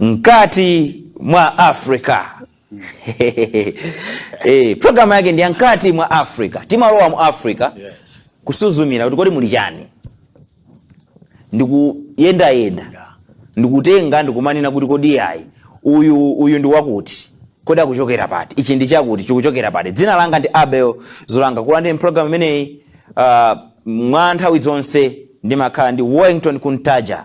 mkati mwa Africa eh, programu yake ndi ya mkati mwa Africa, timalowa mu Africa kusuzumira kuti kodi muli chani, ndikuyendayenda ndikutenga ndikumanena kuti kodi yayi uyu uyu ndi wakuti kodi akuchokera pati ichi ndi chakuti chikuchokera pati dzina langa ndi abel zolanga kulandira programu imeneyi uh, mwa nthawi zonse ndimakhala ndi wellington kuntaja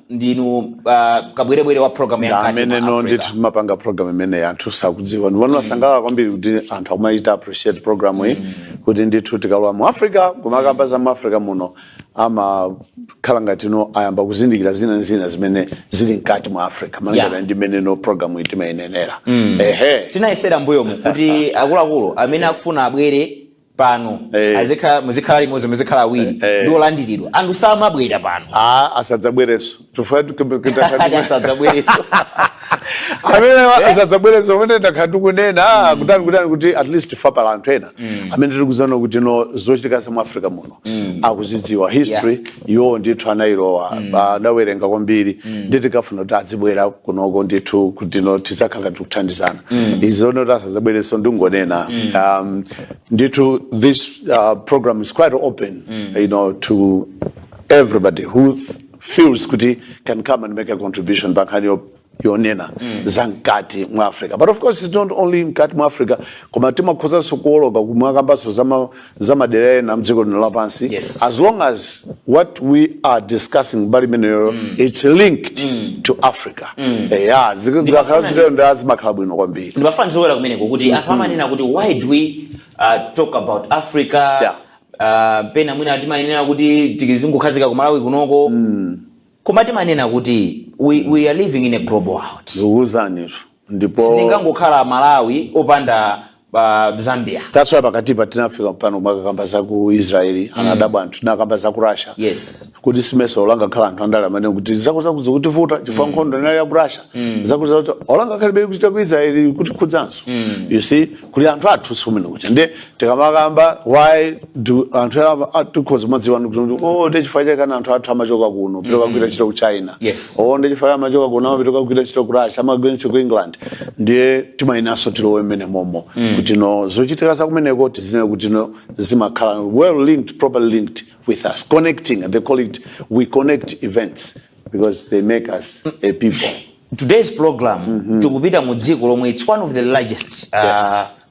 ndinu uh, kabwerebwere wa programu ya mkati mwa Africa amene ndithu timapanga program imene anthu sakudziwa ndipo ndimasangalala kwambiri kuti anthu akumachita appreciate program iyi kuti ndithu tikalowa mu africa kumakamba za mu africa muno amakhala ngati no ayamba kuzindikira zina ndi zina zimene zili mkati mwa africa Yeah. malingana ndi mmene no program iyi timayinenera ehe tinanenera mbuyomu kuti akuluakulu amene akufuna abwere pano Eh. azikhala muzikhala limodzi muzikhala awiri Eh. ndi olandiridwa anthu samabwera pano a asadzabwerenso chifukwa ati asadzabwerenso amene asadzabwerenso pamene takhala tikunena kutani kutani kuti at least papezeka anthu ena amene tikudziwa kuti no zochitika za mu africa muno mm. akuzidziwa history yeah. iwowo ndithu anayilowa mm. anawerenga kwambiri mm. nde tikufuna kuti azibwera kunoko ndithu kuti no tizikhala tikuthandizana mm. izo zoti asadzabwerenso ndingonena mm. um, ndithu this uh, program is quite open mm. you know, to everybody who feels kuti can come and make a contribution pankhani yonena mm. za mkati mwa africa but of course it's not only mkati mwa africa koma timakhozanso kuoloka kumakambanso za madera ena mdziko lino lapansi yes. as long as what we are discussing mbali imeneyoyo mm. it's linked mm. to africa mm. Eh, zimakhala bwino kwambiri ndimafuna ndionjezere kumeneko kuti anthu mm-hmm. amanena kuti why do we uh, talk about africa yeah. uh, pena mwina timayenera kuti tizingokhazika ku malawi kunoko mm. Koma timanena kuti we, we are living in a global world. ndikuwuzanitu ndipo Sitingangokhala Malawi opanda uh, Zambia. that's why pakatipa tinafika pano kumakamba za ku israeli anadabwa anthu tinakamba za ku russia Yes. kuti simeso olangakhala anthu andale amanena kuti zakuti zikutivuta chifukwa nkhondo inali ya ku russia zakuzakuti olangakhalibeli kuchita ku israeli kuti kudzanso you see kuli anthu athu sikumene kucha ndiye tikamakamba why do anthu ena ama- a- tikhoza kumadziwa kuti oh ndi chifukwa chake ana anthu athu amachoka kuno kupita kukagwira ntchito ku china Yes. oh ndi chifukwa chake amachoka kuno amapita kukagwira ntchito ku russia amagwira ntchito ku england ndiye timayeneranso tilowe mmenemomo kuti no zochitika za kumeneko tizinene kuti no zimakhala well linked properly linked with us connecting and they call it we connect events because they make us a people today's program tikupita mu dziko lomwe it's one of the largest uh,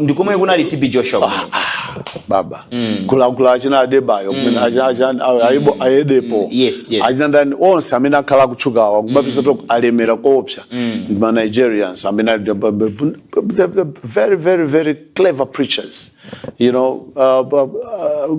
ndikomwe kunali tb joshua ah, ah. baba mm. kulakula achina adebayo mm. mm. ayedepo achina ndani onse amene akhala akutchukawa ma pastor alemera koopsa ndi ma nigerians amene they are very very very clever preachers you know uh, uh, uh,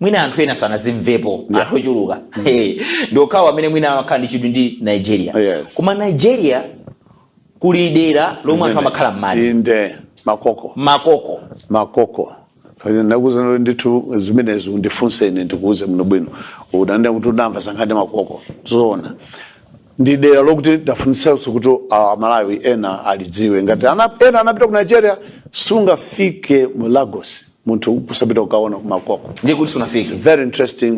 mwina anthu ena sanazimvepo yeah. anthu ochuluka mm. hey. ndi okhawo amene mwina amakhala ndi chidwi ndi nigeria yes. koma nigeria kuli dera lomwe anthu amakhala m'madzi makoko makoko makoko ndakuuza ndithu zimenezi undifunse ine ndikuuze muno bwino unanena kuti unamva za nkhani makoko zoona ndi dera lokuti ndafunitsanso kuti ah, amalawi ena alidziwe ngati ena anapita ku nigeria sungafike mu lagos munthu kusapita kukaona kumakoko ndiye kuti sunafike very interesting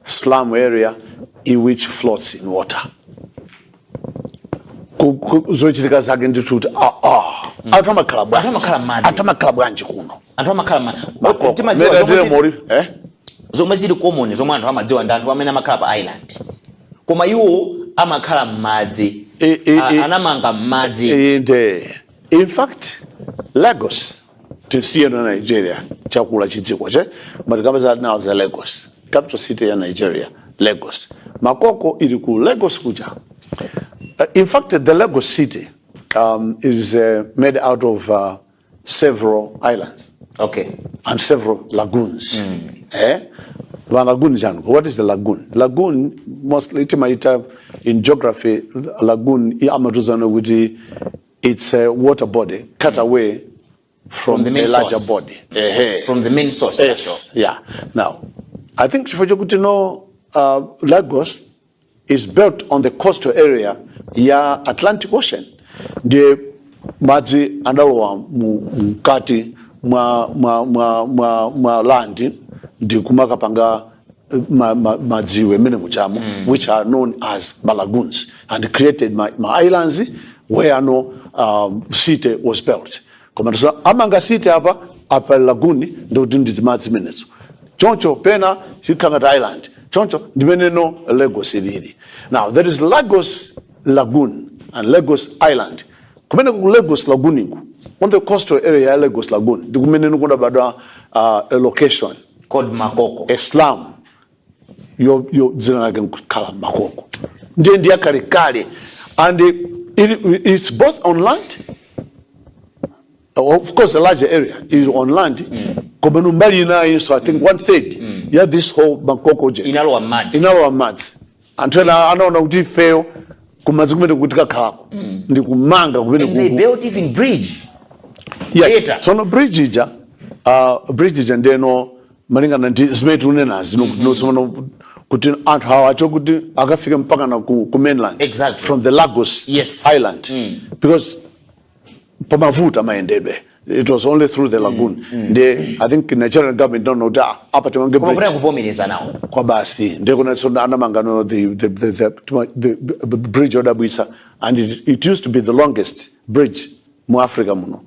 slum area which floats in water Ku- ku- zochitika zake ndithu kuti ah, ah. anthu amakhala bwanji Anthu amakhala m'madzi. anthu amakhala bwanji kuno anthu amakhala ma- Makoko. timadziwa Mera zomwe ndiye zili- mori- eh? zomwe zili common zomwe anthu amadziwa ndi anthu amene amakhala pa island koma iwo amakhala m'madzi E- e- A- e- anamanga m'madzi inde in fact lagos tisiye na nigeria chakula chidziko che matikamba za nawo za lagos capital city ya nigeria lagos makoko ili ku lagos kuja uh, in fact the lagos city um, is uh, made out of uh, several islands okay and several lagoons mm. eh? Van lagoon jano what is the lagoon lagoon mostly timaita in geography lagoon amatozoona kuti It's a water body cut away from, From the main a larger source. body. Ehe. from the main source Yes, yeah. Now, I think chifukwa chokuti no uh, Lagos is built on the coastal area ya Atlantic Ocean ndiye madzi adalowa mu- mkati mwa, mwa, mwa, mwa, mwa land ndi kumakapanga ma, ma, madziwe amene mumatcha mm. which are known as ma lagoons and created ma, ma islands where no um, city was built koma so, amanga city apa apa lagoon ndikuti nditi madzi menezo choncho pena chikhala ngati island choncho ndi mmene no lagos ilili now there is lagos lagoon and lagos island kumene ku lagos lagoon ku on the coastal area ya lagos lagoon ndi kumene no kudabadwa uh, location called makoko a slum yo yo dzina lake nkukhala makoko ndiye ndi yakalekale and it, it's both on land of course the larger area is on land koma no mbali inayinso i think one third ya this whole makoko ija inalowa m'madzi inalowa m'madzi anthu ena anaona kuti ifeyo kumadzi kumeneku tikakhalako mm. ndi kumanga kumene and they built even bridge yes. later tsono bridge ija uh, bridge ija ndiyeno malingana ndi zimene tikunenazi mm -hmm. kuti anthu awa achoke kuti akafike mpakana ku, ku mainland exactly. from the lagos yes. island mm. because pamavuta mayendedwe it was only through the lagoon mm, mm, ndi mm. i think nigerian government inati no ah, apa timange bridge kuvomereza nawo kwa basi ndi kunoso anamanga no the the the, the, the, the bridge yodabwitsa and it, it used to be the longest bridge mu africa muno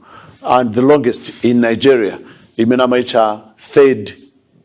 and the longest in nigeria imene amaitcha third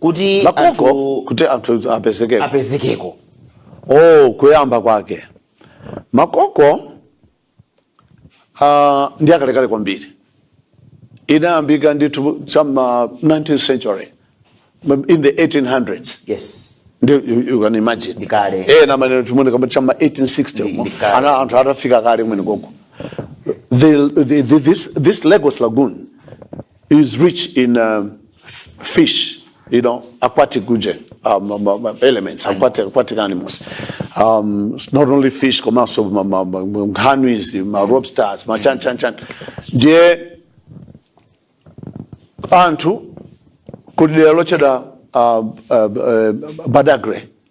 kuti makoko anthu kuti anthu apezekeko apezekeko oh kuyamba kwake makoko uh, ndi akalekale kwambiri inayambika ndithu cha m'ma 19th century in the 1800s yes ndi you, you can imagine Ndi kale. eh na maneno tumone kama cha m'ma 1860 Ndi- ndi kale. ana anthu atafika kale kumene koko the, the, the, this, this Lagos lagoon is rich in um, fish, you know, aquatic region, um, um, um, um, elements, aquatic, aquatic animals. Um, it's not only fish, come out of um, um, um, um, canneries, um, uh, lobsters, ma chan chan chan. Ndiye anthu kudera lochedwa uh, uh, uh, badagre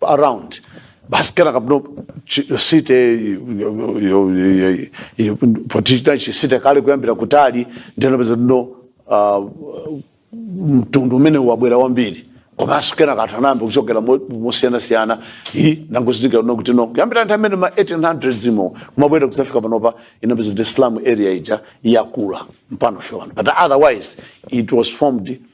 around basi kenaka kapno site potichita chisite kale kuyambira kutali nde unapeza kuti no ah, mtundu umene wabwera wambiri komanso kenaka anthu anayamba kuchokera mo- mosiyanasiyana i nangozitikira no kuti no kuyambira nthawi imene ma 1800 imo kumabwera kudzafika panopa unapeza kuti slum area ija yakula mpaka fewano but otherwise it was formed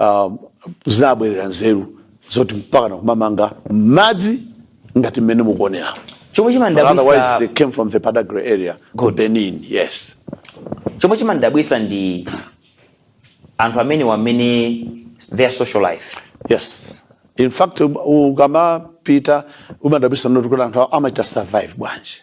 um, zinabwerera nzeru zoti mpakana kumamanga m'madzi ngati mmene mukuonera chomwe chimandabwisa they came from the Badagry area Good. Benin yes chomwe chimandabwisa ndi anthu amenewa mmene their social life yes in fact um, ukamapita umadabwitsa no kuti anthu amachita survive bwanji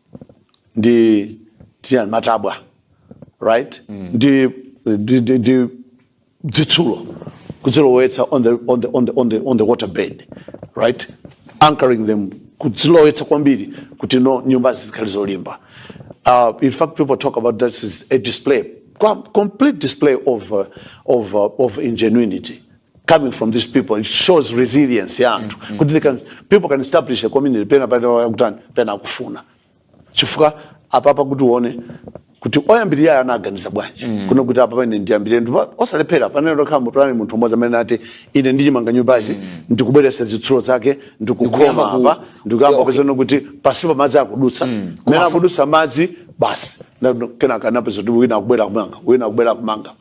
ndi timatabwa right mm. ndi, ndi, ndi, ndi dzitsulo kudzilowetsa on the, on, the, on, the, on, the, on the water bed right anchoring them kudzilowetsa kwambiri kuti no nyumbazi zikhale zolimba uh, in fact people talk about that as a display complete display of, uh, of, uh, of ingenuity coming from these people it shows resilience ya anthu mm, mm. kuti they can people can establish a community pena pena kutani pena akufuna chifukwa apapa kuti uone kuti oyambirira anaganiza bwanji mm. kuno kuti apa pamene ndiyambirire ndi posalephera penelo kapena mutu anali munthu umodzi amene ati ine ndichimanga nyumbachi mm. ndikubweretsa zitsulo zake ndikukhoma apa ndikuyamba okay. kupezano kuti pansipo madzi akudutsa mm. mmene akudutsa madzi basi kenaka anapeza kuti wina akubwera kumanga wina akubwera kumanga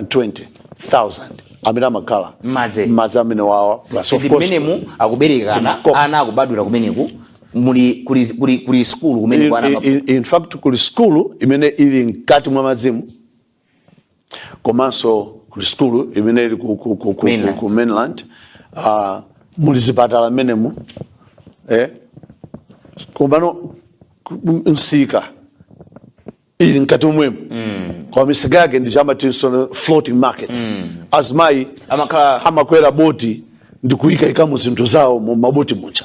800,000-120,000 amene amakhala M'madzi. m'madzi amenewawa plus of ndi course mmenemu akubereka ana Komweko. ana akubadwira kumeneko muli kuli kuli kuli skulu kumeneko in, kwa ana in, in fact kuli skulu imene ili mkati mwa madzimu komanso kuli sukulu imene ili ku, ku, ku, ku, Mainland. ku, ku mainland uh, muli zipatala mmenemu eh? komano ku- m- misika ili mkati momwemo mm. kwa misika yake ndiye amatinso floating markets mm. azimayi amakhala amakwera boti ndi kuyikaikamo zinthu zawo mu maboti muja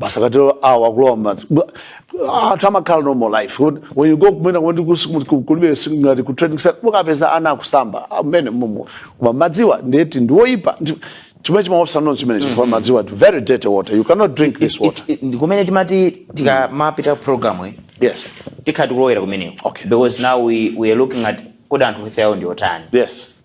basi akatero awa akulowa mmadzi Bwa- anthu amakhala normal life When- when you go kumene kumene kusi- ku- ku- kulibe si- ngati ku training center ukapeza ana akusamba mmene mumu koma madziwa ndekuti ndiwoyipa Ndi- chimene chimaopsa nono chimene chifukwa madziwa ndi very dirty water you cannot drink this water It's- ndi kumene timati tikamapita program iyi yes tikhala tikulowera kumeneko Okay. because now we, we are looking at kodi anthu health yawo ndi yotani yes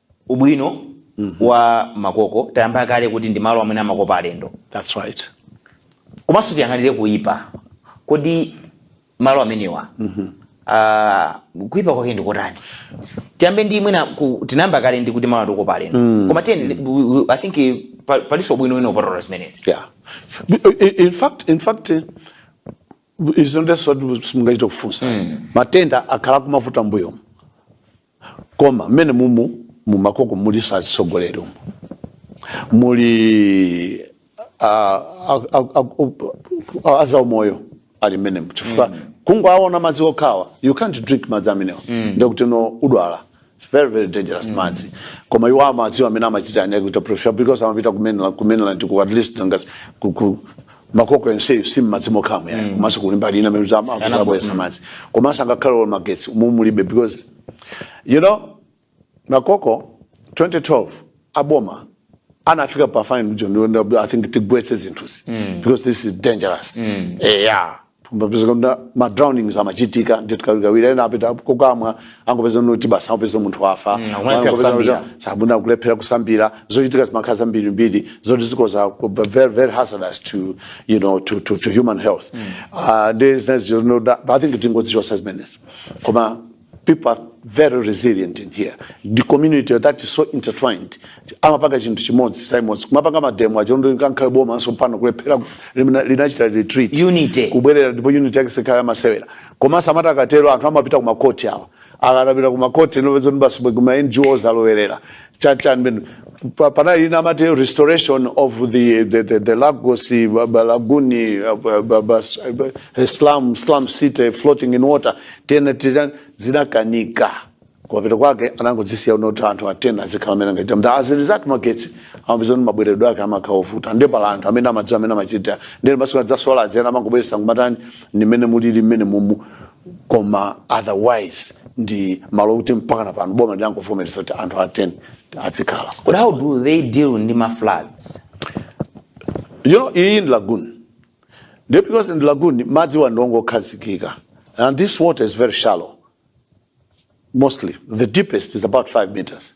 ubwino wa makoko tayamba kale kuti ndi malo amene amakopa alendo That's right. komanso tiyang'anire kuyipa kodi malo amenewa ah, kuyipa kwake ndi kotani tiyambe ndi mwina ku- tinayamba kale ndi kuti malo atikopa alendo koma tiyeni i think eh, pa- palinso ubwino wina kupatula zimenezi Yeah. I- i- In fact, in fact, eh, izo ndiyenso simungachite kufunsa matenda akhala kumavuta mbuyomu koma mmene mumu mumakoko mulinso azitsogoleri umu muli ah, ah, ah, ah, ah, azaumoyo ali mmenemu chifukwa kungoaona madzi okhawa you can't drink madzi amenewa ndekuti no udwala It's very very dangerous madzi koma iwo amadziwa mmene amachita ane kuita prefer because amapita kumene kumene ndi ku at least ngasi ku- ku- makoko yonseyo si mmadzi mokhamu yayi komanso kuli mbali ina amene zama- Anabwe- zabweretsa madzi komanso ngakhale olo magetsi umu mulibe because you know makoko 2012 aboma anafika pa point yonena i think tigwetse zinthuzi because this is dangerous eh yeah Tumapeza kuti ma drownings amachitika ndithu kawirikawiri ena apita kokamwa angopeza kuti basi angopeza munthu wafa Mm, akulephera kusambira. sabuna kulephera kusambira zochitika zimakhala zambirimbiri zoti zikhoza ku- b- very very hazardous to you know to to, to human health Ah, ndi zinazi zinoda but i think tingozichotsa zimenezi koma people are very resilient in here ndi community that is so intertwined amapanga chinthu chimodzi chimodzi kumapanga mademo achoncho angakhale bomanso pano kulephera limene linachita retreat Unity. kubwerera ndipo unity yake siikhala yamasewera komanso amati akatero anthu amapita kumakoti awa akapita kumakoti nkupeza kuti basi bwe kuma ngos alowerera cha cha mbe- pa- panali ina amati restoration of the, the, the, the lagos ba- ba- lagoon uh, ba- ba- ba- uh, slum, slum city floating in water tena tena zinakanika kumapeto kwake anangodzisiya unoti anthu atena azikhala amene angaita mnda as a result magetsi amapeza kuti mabweredwe ake amakhala ovuta ndiye pali anthu amene amadziwa mmene amachita ndiye basi ka solar adzena amangobweretsa nkumatani ndi mmene mulili mmene mumu koma otherwise ndi malo okuti mpakana pano boma lidangovomereza kuti anthu atere adzikhala But how do they deal ndi ma floods? you know iyi ndi lagoon nde because ndi lagoon madziwa ndi ongokhazikika and this water is very shallow mostly the deepest is about 5 meters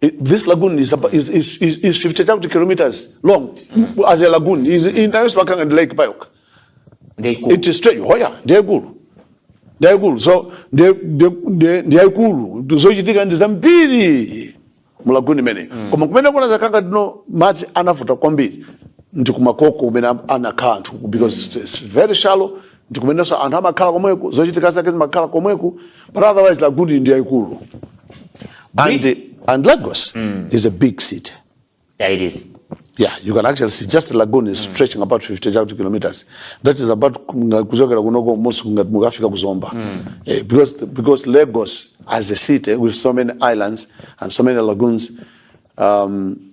It, this lagoon is, about, is, is, is 50,000 kilometers long mm. as a lagoon. Is in Ayoswakang and Lake Bayok. It is straight. Oh yeah, they're good. They're good. So they, they, they, they're cool. So you think and zambiri mulaguni mene mm. koma kumene kuna zakanga dino madzi anavuta kwambiri ndi kumakoko kumene anakhala anthu because it's very shallow ndi kumenenso anthu amakhala komweko zochitika zake zimakhala komweko but otherwise lagoon ndi yaikulu and, and lagos mm. is a big city yeah, it is Yeah, you can actually see just lagoon is mm. stretching about 50 kilometers. That is about kuchokera kunoko mostly ngati mukafika ku Zomba. Mm. Eh, because because Lagos as a city with so many islands and so many lagoons um,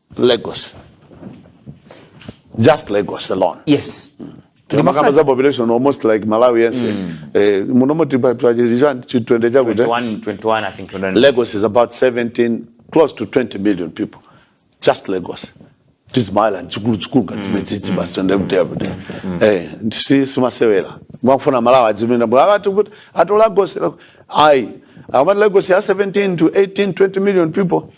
Lagos. Just Lagos alone. Yes. Mm. timakamba za population almost like malawi yense mm. eh, munomo chitwende chakuti lagos is about 17 close to 20 million people just lagos tizimaila chikulu chikulu ngati chimene tsitsi basi toenda kuti apo eh ndisi si masewera mwakufuna malawa adzimenda bwa ati kuti ato lagos ai amati lagos has 17 to 18 20 million people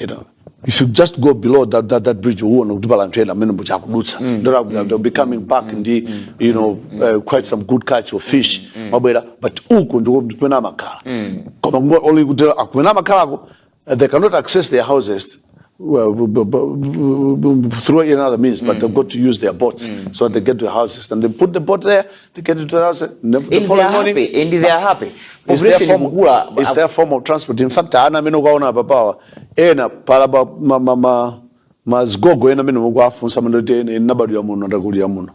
you know if you just go below that, that, that bridge uona kuti pala anthu ena amene mbucha akudutsa mm. that mm. they'll be coming back mm. ndi mm. you know mm. uh, quite some good catch of fish mm. mm. mabwera but uku ndiko kumene amakhala mm. koma kungo only kuti kumene amakhalako uh, they cannot access their houses well, through another means, but mm. they've got to use their boats. Mm. So they get to the houses and they put the boat there They get into the house the and they are following morning. happy and they are happy It's their population form- ikukula it's their form of transport in fact ana amene mukuaona apapawa ena palaba ma- ma- ma- mazigogo ena amene mukuafunsa mangoti ine ndabadwira muno ndakulira muno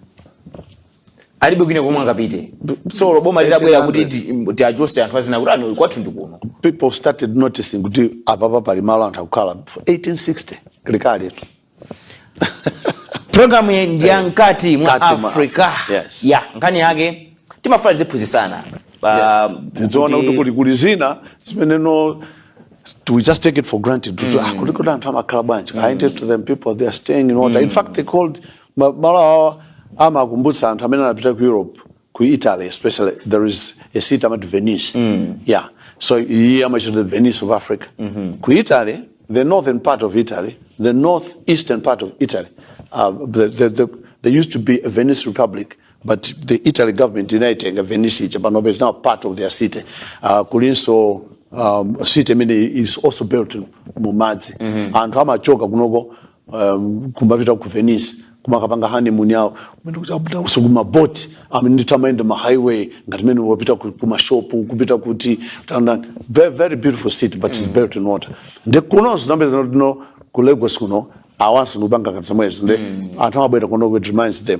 alibe kwina komwe angapite so boma litabwera kuti ti- tiachose anthu azinena kuti ah no kwathu ndi kuno people started noticing kuti apapa pali malo anthu akukhala for 1860 likali programu yake ndi ya mkati mwa Mkati mwa africa Africa, yes. ya nkhani yake timafuna tiziphunzisana Pa- tidziona kuti- kuti kuli kuli zina zimene no we just take it for granted kuti ah kuliko koma anthu amakhala bwanji i tell to them people they are staying in water in fact they called ma- malo awa amakumbutsa anthu amene anapita ku europe ku italy especially there is a city amati venice yeah so iye amachita the venice of africa ku italy the northern part of italy the north eastern part of italy uh, the, the, the, there used to be a venice republic but the italy government inaitenga venice ija panobe is now part of their city uh, kulinso um, city imene is also built mumadzi anthu amachoka kunoko um, kumapita ku venice kumakapanga honeymoon yawo kumene kuti apita konso kumaboti amene ndithu amayenda ma highway ngati mmene wapita ku- kumashopu kupita kuti ndani very, very beautiful city but it's built in water nde kuno zikupezeka kuno ku lagos kuno awanso akupanga ngati zomwezo nde anthu amabwera kuno it reminds them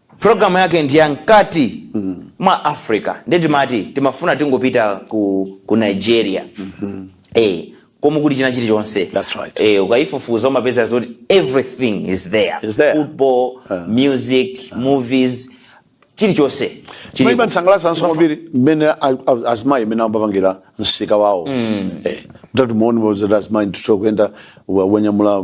Program yake ndi ya mkati mwa Africa. Ndiye timati timafuna tingopita ku, ku Nigeria. Eh, komwe kuli china chilichonse. That's right. Eh, ukaifufuza umapeza zoti everything is there. Is there. Football, music, movies, chilichonse. chilipo. Chimandisangalatsanso kwambiri mmene a- a- azimayi mmene amapangira msika wawo. Eh, Mutati muone mozera azimayi ndithu kuyenda wanyamula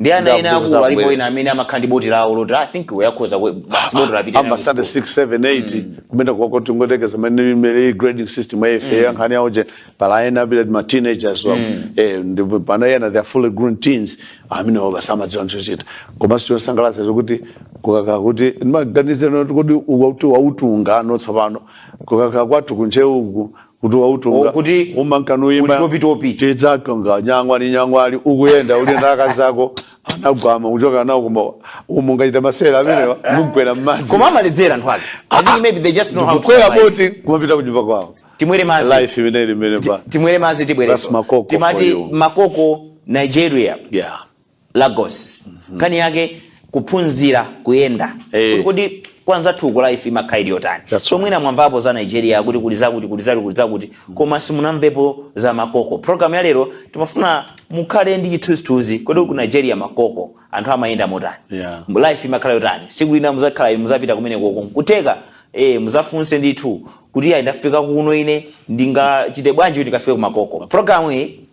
ndi ana ena akulu alipo ena amene amakhala ndi boti lawo loti i think iwe akhoza kwe- basi boti lapita nawo ambasada school. 678 kumene kwako tingoyerekeza mene imene grading system ya life yankhani yawo nde pali ena bila ma teenagers wa eh ndi pali ena they are fully grown teens amene wa basi amadziwa chochita koma si zosangalasa zokuti kukaka kuti maganize no kuti wautu wautunga no tsopano kukakhala kwathu kunja uku kuti wautunga kuti umangoyimba topi topi tedza tonga nyangwa ni nyangwa uli ukuyenda uli ndi akazako anagwama uchoka nawo koma umungachita masewera amene mungagwere mmadzi koma amaledzera anthu ake i think maybe they just know how to kwera boti kumapita kunyumba kwawo timwere mazi life imene ili mene ba timwere mazi tibwereso timati makoko nigeria yeah Lagos nkhani yake kuphunzira kuyenda Eh. kuti kodi kwa anzathuko life imakhala ili yotani So mwina mwamvapo za nigeria kuti kuli zakuti kuli zakuti kuli zakuti koma simunamvepo za makoko program ya lero timafuna mukhale ndi chithunzithunzi kodi ku nigeria makoko anthu amayenda motani Yeah. life imakhala yotani tsiku lina muzakhala inu muzapita kumene koko nkutheka eh, muzafunse ndithu kuti ayi ndafika kuno ine ndingachite bwanji kuti ndikafike ku makoko program iyi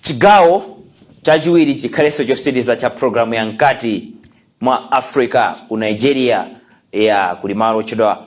chigawo chachiwiri chikhalenso chotsiriza cha programu ya mkati mwa africa ku nigeria ya kuli malo otchedwa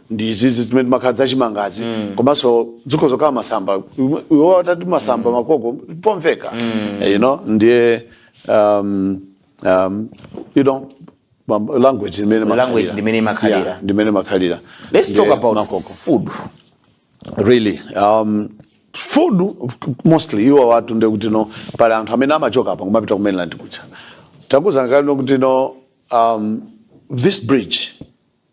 ndi izi zimene timakhala za chimangazi komanso zikhoza kukhala masamba iwo atati masamba makoko pomveka you know ndiye um, um, you know mam- language imene Language makhalira. ndimene imakhalira. Yeah, ndimene imakhalira let's Ndiye talk about makoko. food really um, food mostly iwowatu nde kuti no pali anthu amene amachoka apa kumapita ku mainland kuja takuuzani kale nokuti no um, this bridge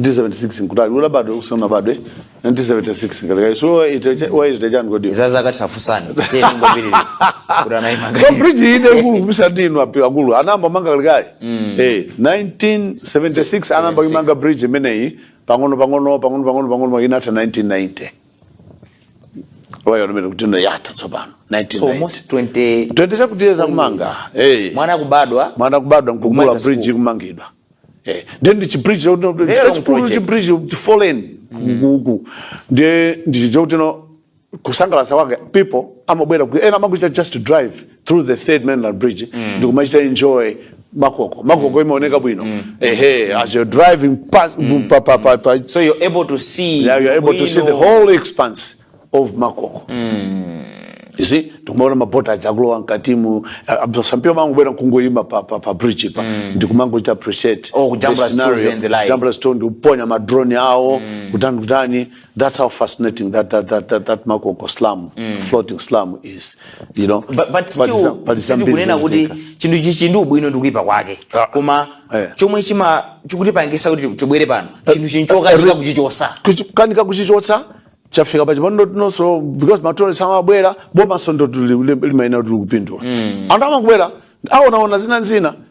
1976 nkutali usanabadwe usanabadwe 1976 ngati kaya so wait wait chani kodi za zaka tisafunsane tiye tingopitiriza kuti anayimanga so bridge ine kuli kubisa ndinu apa akulu anayamba kumanga kalekale eh 1976 anayamba kuimanga bridge imeneyi pang'ono pang'ono pang'ono pang'ono pang'ono inatha 1990 ndiyo imene kuti no yatha tsopano so 1990 almost 20 20 zakutiyezi zakumanga eh mwana kubadwa mwana kubadwa nkukula Kumaliza school. bridge ikumangidwa eh then ndi chibridge Zero long chachikulu project. chibridge chifolen kuku ndiye ndichifukwa kuti no kusangalatsa kwake people amabwera kuti ena amakachita just to drive through the third mainland bridge mm. ndikumachita enjoy makoko makoko mm. imaoneka bwino mm. ehe as you're driving past mm. pa, pa, pa, pa, so you're able to see yeah, you're able to see the whole expanse of makoko mm. you see tikumaona maboti aja akulowa mkatimu uh, some people mangobwera nkungoyima pa, pa, pa bridge-pa mm. ndikumangochita appreciate oh, jambula zithunzi and the like jambula zithunzi ndikuponya madrone awo mm. kutani kutani That's how fascinating that that that that, that Makoko slum, floating slum is. You know, but, but still but it's kunena kuti chinthu chili ndi ubwino ndi kuipa kwake Ah. koma Eh. chomwe chima chikutipangisa kuti tibwere pano chinthu chino chokanika kuchichotsa kanika kuchichotsa chafika pa chipano nchoti nawonso because matourist amabwera bomanso ndiye limaona kuti likupindula anthu amangobwera aonaona zina nzina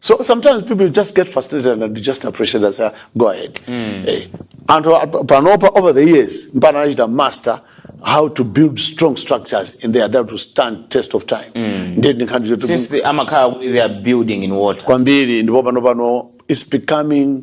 so sometimes people just get frustrated and just appreciate and say go ahead Eh, anthu ap- panopa over the years mpana anachita master how to build strong structures and they are there to stand test of time ndiye ndinkhani zoti since the amakhala kuti they are building in water kwambiri ndipo pano pano it's becoming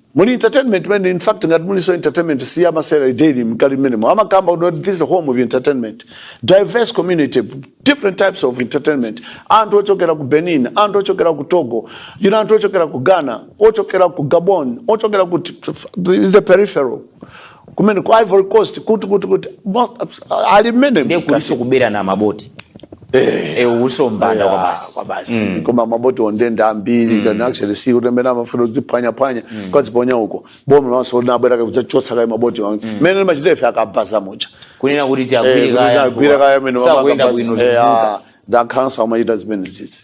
muli entertainment man in fact ngati mulinso entertainment sii ya masewera ili mkati mmenemo amakamba kuti this is a home of entertainment diverse community different types of entertainment anthu ochokera ku benin anthu ochokera ku togo you know, anthu ochokera ku ghana ochokera ku gabon ochokera ku t- t- the peripheral kumene ku ivory coast kuti kuti kuti mo- ali mmenemo ndiye kulinso kubera na maboti Eh, kulinso umbanda kwa basi kwabasi koma maboti ondende ambiri kuna actually si kuti amene amafuna kudziphwanyaphwanya kukadziponya uko boma lonse linabwera kudzachotsa kaye maboti onse mmene limachita ife akabaza muja kunena kuti tiagwire kaye agwire kaye amene sakuenda bwino zikuvuta nda council amachita zimenezizi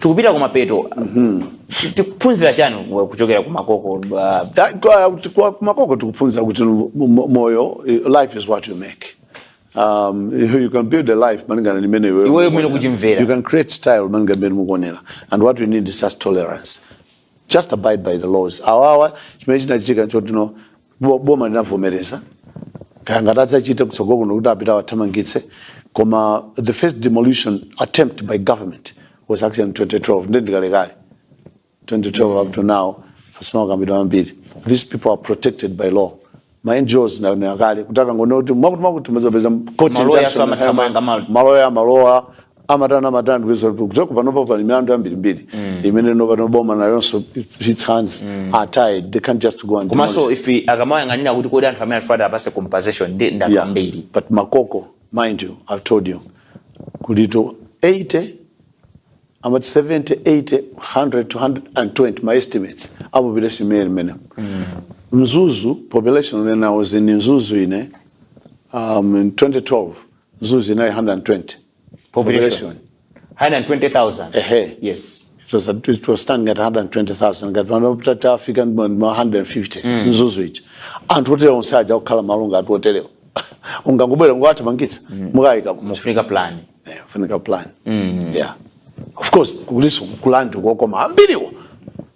tikupita kumapeto Ti- tikuphunzira chani ku- kuchokera kumakoko ah, Ta- kwa- kwa- kumakoko tikuphunzira kuti mo- mo- moyo eh, life is what you make um, you can build a life malingana ndi mmene iweyo Iweyo mmene ukuonera. ukuchimvera. you can create style malingana ndi mmene mukuonera and what we need is just tolerance just abide by the laws awawa chimene chinachitika nchoti Bo- boma linavomereza kaya kangati adzachite kutsogolo kuno kuti apita awathamangitse koma the first demolition attempt by government was actually in 2012 ndi ndikalekale 2012 up to now pasinakambidwe zambiri these people are protected by law ma ngos analowa kale kuti akangonena kuti mwakuti mwakuti muzapeza court Maloya injunction, amathamanga, mal- maloya maloya amatani amatani ndikudziwa kuti kuchoka panopa pali milandu yambirimbiri imene ndi pano boma nayonso its hands are tied they can't just go and demolish. komanso if akamayang'anira kuti kodi anthu amene alifata apase compensation ndi Yeah. ndi ambiri But Makoko, mind you, I've told you, Kuli to 80, about 70, 80, 100 to 120, ma estimates a population mmenemo. Mzuzu, population when I was in Mzuzu in, eh, um, in 2012, Mzuzu inali 120 population 120,000 Ehe. yes it was, at- it was standing at 120,000 ngati pano titi yafika ndi ma- ma 150 mzuzu ija anthu oterewa onse aja kukhala malo anthu oterewa ungangobwera nkuwathamangitsa mukawaika kuti pafunika plan Eh, funika plan yeah of course kuliso kulandu kokoma ambiriwo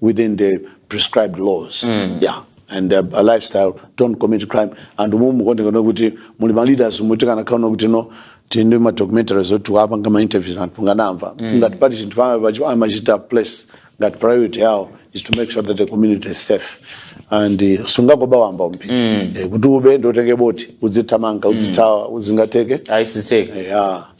within the prescribed laws mm. yeah and uh, a lifestyle don't commit crime and umu mukuoneka kuti muli ma leaders mutati mukaone kuti no tili ndi ma documentaries oti apanga ma interviews anthu mungamamve mm. ngati pali chinthu chomwe amachita place ngati priority yao is to make sure that the community is safe and uh, sungakabe wamba wamba mm. eh, kuti ube nkutenga boti udzithamanga udzithawa mm. sizingatheke aisiseke yeah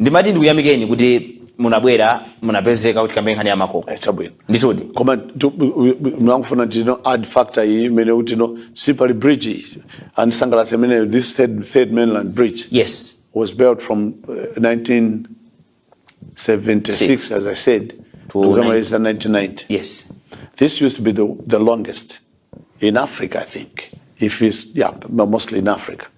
ndimati ndikuyamikeni kuti munabwera munapezeka kuti tikambe nkhani ya makoko Eh, chabwino nditudi koma ndangofuna tione added factor iyi imene kuti no si pali bridge iyi andisangalatsa imene this third, third mainland bridge yes was built from uh, 1976 as i said to ndikukamaliza 1990 yes This used to be the, the longest in Africa, I think. If it's, yeah, but mostly in Africa.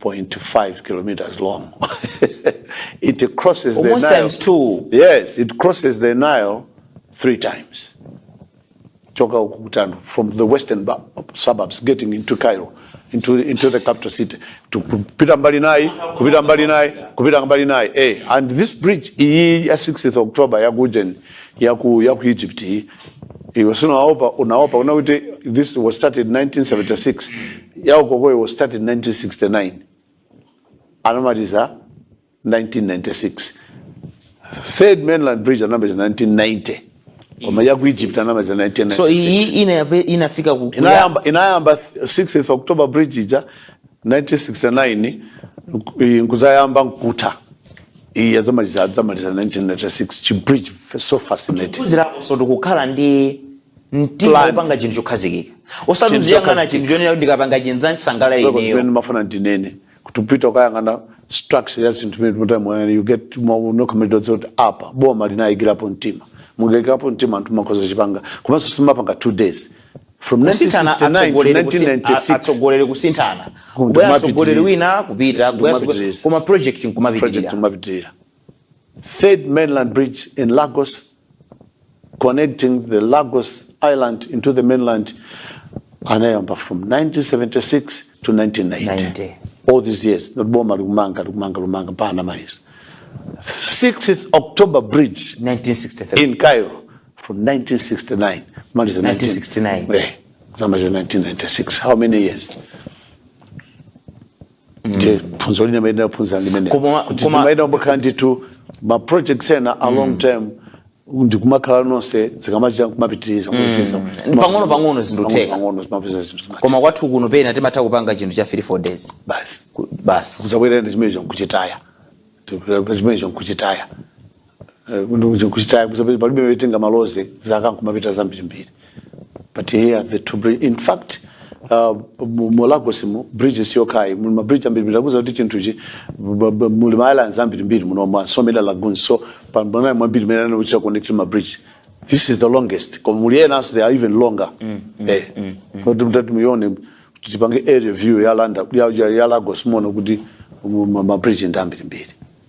1.5 kilometers long. it crosses the Almost Nile. times two. Yes, it crosses the Nile three times. Choka Ukutanu, from the western ba- suburbs getting into Cairo, into, into the capital city, to kupita mbali naye, kupita mbali naye, kupita mbali naye. Eh, and this bridge, iyi ya 6th October ya Gujen, ya ku, ya ku Egypt, iyi, iwe sunaone unaopa kunena kuti this was started in 1976 ya ukoyo was started in 1969 anamaliza 1996 third mainland bridge anamaliza 1990 koma ya ku Egypt anamaliza 1996 so iyi ina- inafika ku- inayamba inayamba 6th october bridge ija 1969 nkuzayamba nkutha iyi adzamaliza adzamaliza 1996 chi bridge so fascinating kusonyezanso tikukhala ndi mtima Plan. wopanga chinthu chokhazikika osati Chinthu uziyang'ana chokhazikika. chinthu chonena kuti ndikapanga chinthu adzasangalala Zimene ineyo ndimafuna ndinene kuti ukapita ukayang'ana structure ya zinthu imene timati moyani you get nkumadziwa kuti apa boma linayikirapo mtima munayikirapo mtima anthu amakhoza kuchipanga komanso simapanga two days kusinthana atsogoleri kusi atsogoleri kusinthana kubwera mtsogoleri wina kupita kubwera atsogoleri koma project nkumapitirira kumapitirira third mainland bridge in lagos connecting the lagos island into the mainland anayamba from 1976 to 1990 90. all these years boma likumanga likumanga likumanga mpaka anamaliza 6th october bridge 1963 in cairo from 1969 maliza 1969. 19 eh, kuzamaliza 1996 how many years ndiye phunziro lina mwina taphunzira limene Koma- koma- ndimaona pamakhala ndithu ma projects ena a long term ndikumakhala zonse zikamachitika kumapitiriza kumapitiriza Pang'ono pang'ono zinthu zotheka. pang'ono zimapeza zinthu zimati koma kwathu kuno pena timatha kupanga chinthu cha 3 4 days basi Ku- basi kuzabwera ndi chimenecho nkuchitaya chimenecho nkuchitaya Eh, kuno kuja kuchita kusabe- palibe wetenga maloze zaka nkumapita zambirimbiri but here the two bridge in fact uh, mu- mu lagos mu bridge siyokhayi muli mabridge ambirimbiri akuza kuti chinthuchi b- b- muli ma islands ambirimbiri muno ma so many lagoons so pamanayi mwambiri mene anochita connect ma bridge this is the longest koma muli enanso they are even longer eh kuti mutati muione kuti tipange aerial view ya landa ya, ya, ya lagos muona kuti mu- ma ma bridge ndi ambirimbiri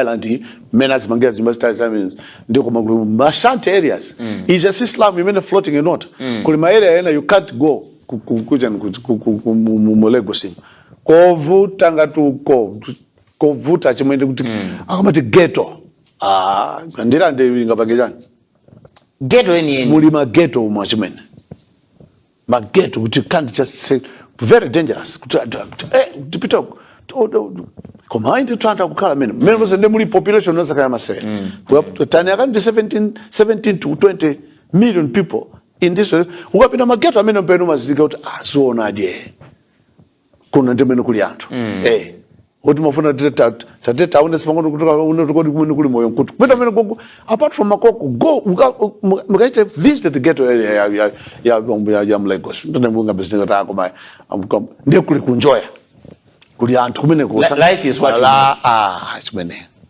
island iyi mmene azimangira zinyumba zitali zamene ndi koma kuli mashanty areas ija si slum imene floating inota kuli ma area ena you can't go ku- ku- kuja ni ku- ku- ku- ku- mu- mu- mu Lagos imu. kovuta ngati uko kovuta chimene ndi kuti akamati ghetto ah ndira ndi ingapange chani ghetto yeniyeni muli ma ghetto umo chimene ma ghetto kuti can't just say very dangerous kuti anthu akuti eh tipita uko. To- to- to- koma ayi ndithu anthu akukhala mene mmene mose ndiye muli population yosakhala masewera tani akuti ndi 17 17 to 20 million people in this ukapita ma ghetto amene mpamene umazindikira kuti aziona adye kuno ndimene kuli anthu mm. eh kuti umafuna tate taone sipangono kutoka uno tukodi kumene kuli moyo nkutu kupita mene gogo apart from makoko go mukachite visit the ghetto area ya ya ya ya ya Lagos ndine mbunga business ta koma amkom ndiye kuli kunjoya kuli anthu kumene kusa life is what you ah chimene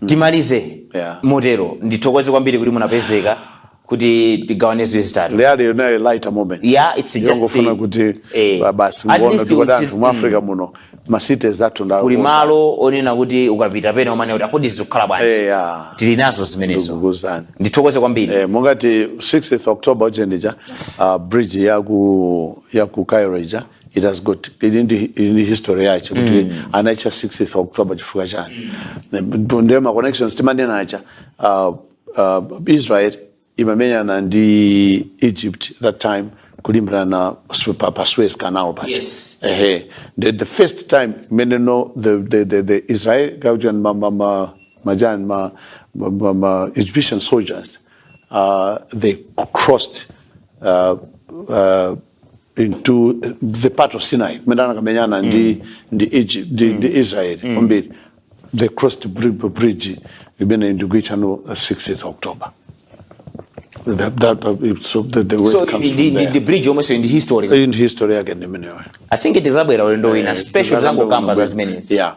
mm. timalize yeah. motero ndithokoze kwambiri kuti munapezeka kuti tigawane ziwiri zitatu lero yali on a lighter moment yeah it's just yongofuna kuti eh, basi muone kuti anthu mu Africa mm. muno ma cities athu ndawo kuli malo onena kuti ukapita pena umanena kuti ah kodi zikukhala bwanji eh, yeah. tili nazo zimenezo ndithokoze kwambiri eh, monga ngati 6th October ujeni ija uh, bridge ya ku ya ku Cairo ija it has got ili ndi ili ndi history yake kuti anaitcha 6th october chifukwa chani Ndo- ndiye ma connections timanena acha uh, uh, israel imamenyana ndi egypt that time kulimbirana Su- pa, pa suez canal pati Yes. ehe the, the first time mene no the, the, the, the israel kaujeni ma, ma, ma, maujeni ma, ma, ma, ma egyptian soldiers uh, they crossed uh, uh, into the part of Sinai kumene anakamenyana ndi ndi Egypt ndi, ndi Israel kwambiri they crossed bri- bridge imene ndikuitcha ano 6th October that, that, that, so the, the way so it comes ndi from ndi- there. ndi bridge yomwenso ndi history in history yake ndi imeneyo i think tizabwera ulendo wina special zangokamba za zimenezi yeah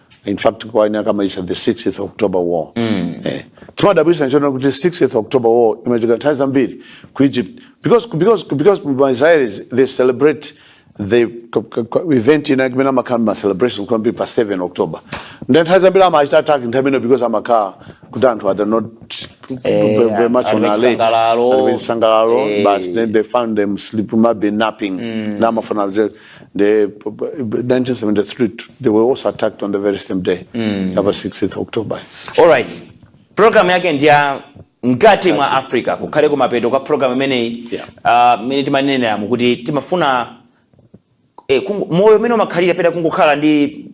in fact kwa ena amaitcha the 6th October war mm. eh timadabwitsa nchoona kuti 6th October war imachitika nthawi zambiri ku Egypt because because because ma Israelis they celebrate the event inayake imene amakhala ma celebration kwambiri pa 7 October then nthawi zambiri amachita attack nthawi imeneyo because amakhala kuti anthu are not eh, very much on alert chisangalalo eh. but then they found them sleeping maybe napping mm. na amafuna the 1973 they were also attacked on the very same day mm. yapa 6th october all right program yake ndi ya mkati mwa africa kukhale kumapeto kwa program imeneyi Yeah. ah, mmene timanenera muja kuti timafuna eh, kungo- moyo umene umakhalira pena kungokhala ndi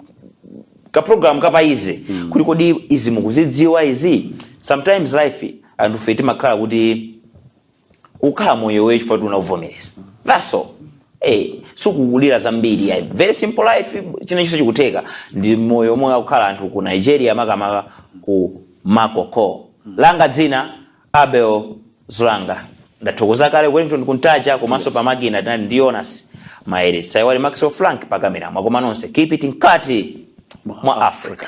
kaprogramu kapadziwe mm. kuti kodi izi mukuzidziwa izi sometimes life anthufe timakhala kuti ukhala moyo umenewo chifukwa unavomereza that's all Eh, sukulira zambiri ya very simple life chinachilichonse chikutheka ndi moyo umene akukhala anthu ku nigeria makamaka ku makoko langa dzina abel zulanga ndathokoza kale wellington kuntaja komanso pa makina tinali ndi jonas maere osaiwala maxwell frank pakamera mwakoma nonse keep it mkati mwa africa